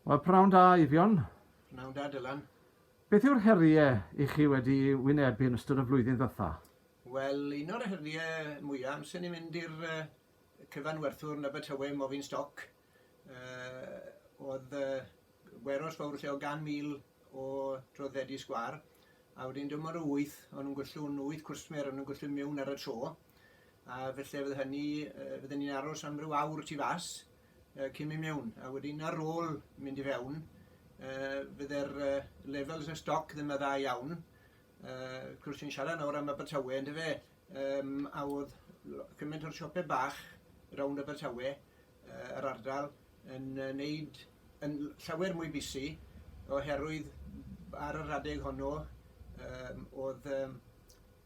Wel, pnawn da, Eifion. Pnawn da, Dylan. Beth yw'r heriau i chi wedi wynebu yn ystod y flwyddyn ddytha? Wel, un o'r heriau mwyaf amser ni'n mynd i'r uh, cyfanwerthwr yn Abertawe, Mofin Stoc, uh, oedd uh, weros fawr lle o gan mil o droddedi sgwar, a wedyn dim ond wyth, o'n nhw'n gwllw'n wyth cwsmer, o'n nhw'n gwllw'n mewn ar y tro, a felly fydd hynny, uh, fydden ni'n aros am ryw awr tu fas, y cyn mynd mewn a wedyn ar ôl mynd i fewn fydde'r levels y stoc ddim yn dda iawn uh, cwrs i'n siarad nawr am Abertawe yn dyfe um, a oedd cymaint o'r siopau bach rownd Abertawe uh, yr ardal yn uh, neud yn llawer mwy busy oherwydd ar yr adeg honno um, oedd um,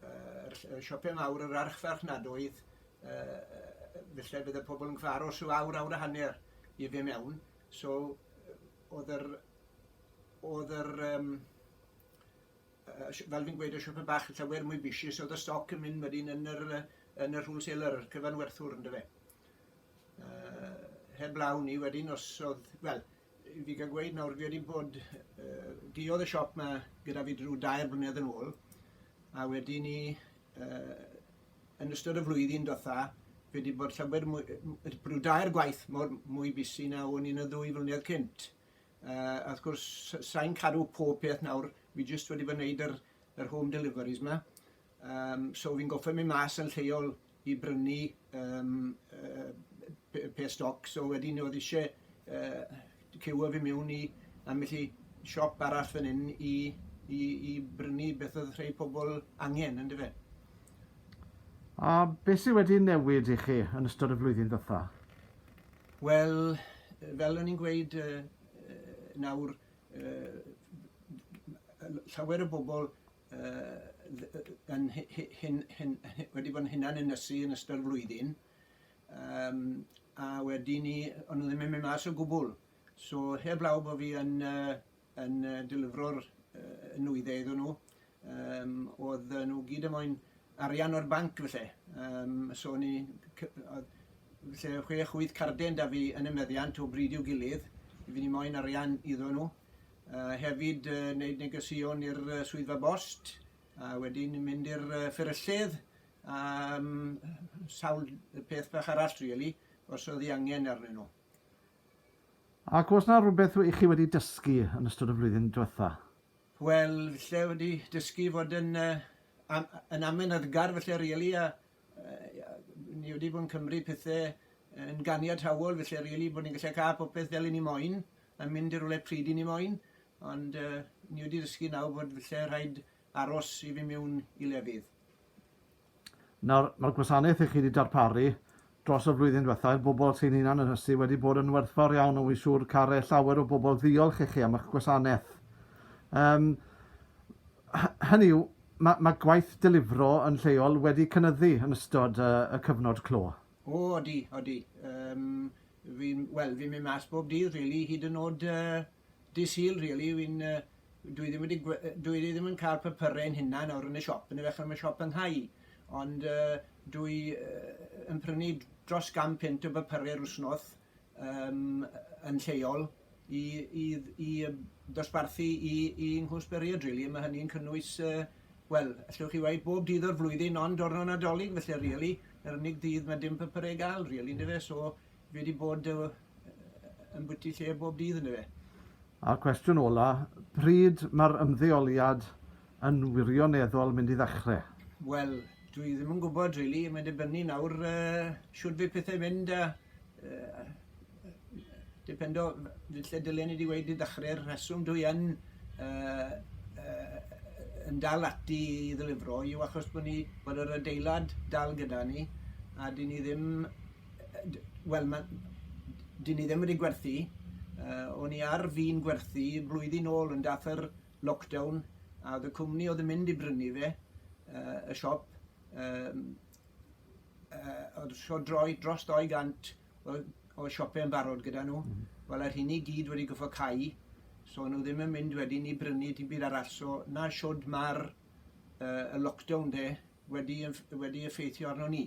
uh, siopau mawr yr archfarchnadoedd yy falle bydde pobl yn cael aros rhyw awr, awr a hanner i fe mewn. So, oedd yr... Oedd yr um, fel fi'n gweud, y siopau bach yn llawer mwy bisius, oedd y stoc yn mynd wedyn yn yr, yn yr wholesaler, yr cyfanwerthwr, ynddo fe. Uh, heb law ni wedyn, os oedd... Wel, fi gael gweud nawr, fi wedi bod... Uh, diodd y siop yma gyda fi drwy dair blynedd yn ôl, a wedyn ni... Uh, Yn ystod y flwyddyn diwetha, fi wedi bod llawer mwy, rhyw dair gwaith mor mwy busy na o'n i yn y ddwy flynedd cynt. Uh, a wrth gwrs, sa'n cadw pob peth nawr, fi jyst wedi bod yn neud yr, yr home deliveries ma. Um, so fi'n goffa mynd mas yn lleol i brynu um, uh, pe stoc, so wedyn oedd eisiau uh, Cewaf i mewn i ambell i siop arall fan hyn i, i, i brynu beth oedd rhai pobl angen, yn dyfe? A beth sydd wedi newid i chi yn ystod y flwyddyn ddytha? Wel, fel o'n i'n gweud uh, nawr, uh, llawer o bobl uh, yn hyn, hyn, hyn, wedi bod yn hunan ynysu yn ystod y flwyddyn, Yym a wedi 'ny o'n nhw ddim yn mynd mas o gwbwl. So heblaw bo' fi yn yy yn yy delifro'r yy nwydde iddon nhw yym o'dd yy nhw gyd yn moyn arian o'r banc felly yym so o'n i c- o'dd lle o' chwech wyth carden 'da fi yn y meddiant o bryd i'w gilydd fi ddim moyn arian iddon nhw. Yy hefyd yy neud negeseuon i'r yy swyddfa bost a wedyn mynd i'r yy fferyllydd am sawl peth bach arall really, os oedd hi angen arnyn nhw. Ac oes na rhywbeth i chi wedi dysgu yn ystod y flwyddyn diwetha? Wel, lle wedi dysgu fod yn, uh, am, yn amynydgar felly really, a uh, ni wedi bod yn cymryd pethau yn ganiataol felly really, bod ni'n gallu cael popeth fel i ni moyn, a mynd i'r rhywle pryd i ni moyn, ond uh, ni wedi dysgu nawr bod felly rhaid aros i fi miwn i lefydd. Nawr, mae'r gwasanaeth i chi wedi darparu dros y flwyddyn diwetha' i'r bobl sy'n hunan ynysu wedi bod yn werthfawr iawn a wy'n siŵr care llawer o bobl ddiolch i chi am eich gwasanaeth. Yym, hynny yw, mae, mae gwaith delifro yn lleol wedi cynyddu yn ystod y, y cyfnod clo. O, odi, odi. Um, fi'n, wel, fi'n mynd mas bob dydd, really, hyd yn oed uh, Dydd Sul rili, fi'n yy dwi ddim wedi gwe- yy dwi ddim yn ca'l papure yn hunan nawr yn y siop yndyfe achos ma' siop yn nghau ond yy dwi yy yn prynu d- dros gan punt o bapure yr wsnos yym yn lleol i i dd- i yy dosbarthu i i nghwrs bwriad rili a ma' hynny'n cynnwys yy wel allwch chi weud bob dydd o'r flwyddyn ond diwrno Nadolig felly rili yr unig ddydd ma' dim papure i ga'l rili yndyfe so fi wedi bod yy ymbyty lle bob dydd yn y fe. A'r cwestiwn ola, pryd mae'r ymddeoliad yn wirioneddol mynd i ddechrau? Wel, dwi ddim yn gwybod rili, really. mae'n dibynnu nawr uh, siwr fe pethau mynd a uh, dipendo lle dylen ni wedi wedi ddechrau'r rheswm dwi yn uh, uh, yn dal ati i ddylifro yw achos bod ni bod yr adeilad dal gyda ni a dyn ni ddim Wel, mae... dyn ni ddim wedi gwerthu. Uh, o'n i ar fi'n gwerthu blwyddyn ôl yn dath yr lockdown a oedd y cwmni oedd yn mynd i brynu fe, uh, y siop, um, uh, oedd so droi dros 200 o, o siopau yn barod gyda nhw. Mm. Wel, yr hyn i gyd wedi goffo cau, so nhw ddim yn mynd wedyn i brynu ti byd arall. So, na siwd mae'r uh, lockdown de wedi, wedi effeithio arno ni.